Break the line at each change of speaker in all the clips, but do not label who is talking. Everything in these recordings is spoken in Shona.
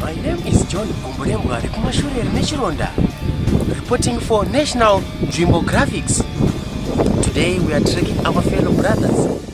My name is John Gomborembwa rekumashure rine chironda reporting for National Nzvimbo Graphics. Today we are tracking our fellow brothers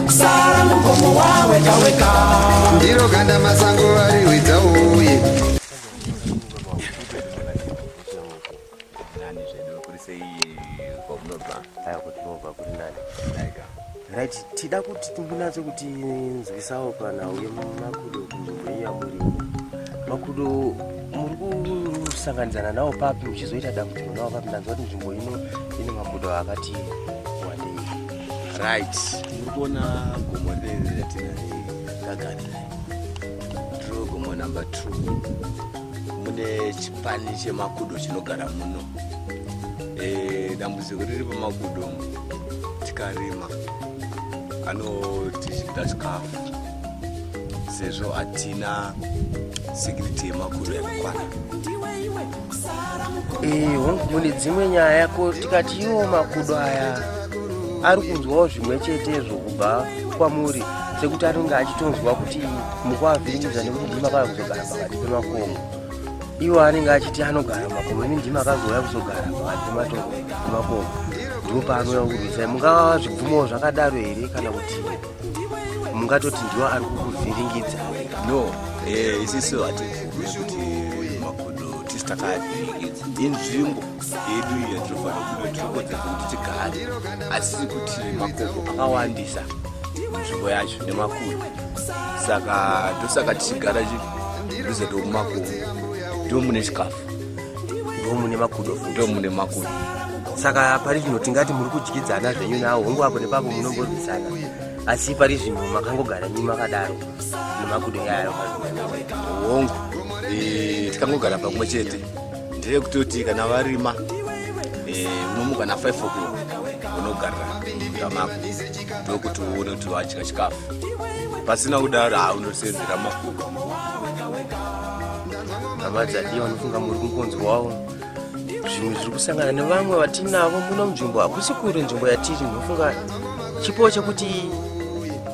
Sara mugomo wawega wega. Ndiro ganda masango vari hwidza uye. Right, tida kuti timbunatse kuti nzwisawo kana uye makudo kunzvimbo iya muri makudo muri kusanganidzana nawo papi muchizoita dambudziko nawo papi ndanzwa kuti nzvimbo ino ine makudo akati right urikuona gomo riri ratinari kagarira ndiro gomo number two mune chipani chemakudo chinogara muno e, dambudziko riri pamakudo tikarima anotizvida chikafu sezvo hatina security yemakudo yakakwana Eh, hongu mune dzimwe nyaya ko tikati iwo makudo aya ari kunzwawo zvimwe chetezvo kubva kwamuri sekuti anenge achitonzwa kuti mukuavhiringidza nekuti ndima kaya kuzogara pakati pemakomo iwo anenge achiti anogara makomo ini ndima akazouya kuzogara pakati pematongo emakomo ndipo paanouya kurwisai mungava zvibvumo zvakadaro here kana kuti mungatoti ndiwo ari kukuvhiringidza no eh, isiso hatibvume kuti makodo tisi takavhiringidza inzvimbo yedu iyo tinofanira kuve tinokodzera kuti tigare asi kuti makodo akawandisa nzvimbo yacho nemakuru saka ndosaka tichigara ruze ndomumakomo ndomune chikafu ndomune makudo ndomune makudo saka pari zvino tingati muri kudyidzana zvenyu nawo hongu apo nepapo munomborwisana asi pari zvino makangogara nyi makadaro nemakudo yayo hongu eh, tikangogara pamwe chete ndeye kutoti kana varima eh, unomuka na 5 o'clock unogarira munda mako ndokuti uone kuti wadya chikafu pasina kudaro haunosenzera makudo hama dzadii vanofunga muri kungonzwawo zvimwe zviri kusangana nevamwe vatinavo muno munzvimbo hakusi kure nzvimbo yatiri ndinofunga chipo chekuti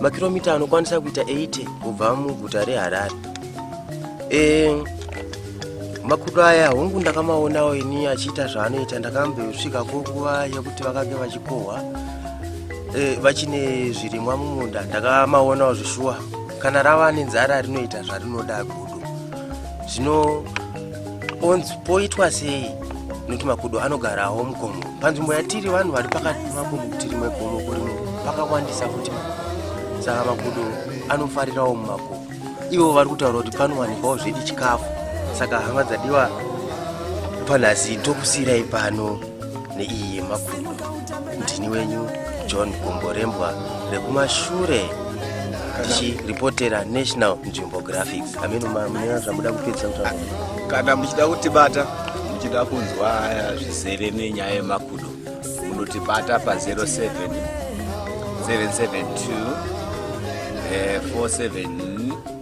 makiromita anokwanisa kuita 80 kubva muguta reharare e, makudo aya hongu ndakamaonawo ini achiita zvaanoita ndakambosvika kunguva yekuti vakange vachikohwa e, vachine zvirimwa mumunda ndakamaonawo zvishuwa kana rava nenzara rinoita zvarinoda gudo zvino onzi poitwa sei nokuti makudo anogarawo mugomo panzvimbo yatiri vanhu vari pakati pemakomo kuti rimwe gomo kurimwe pakawandisa futi saka makudo anofarirawo mumakomo ivo vari kutaura kuti panowanikwawo zvedi chikafu saka hama dzadiwa panhasi ndokusiyirai pano neiyi yemakudo ndini wenyu john gomborembwa rekumashure tichiripotera national nzvimbo graphics ameno mune zvamuda kupedzisa kutaura kana muchida kutibata muchida kunzwa zvizere nenyaya yemakudo munotibata pa07 772 47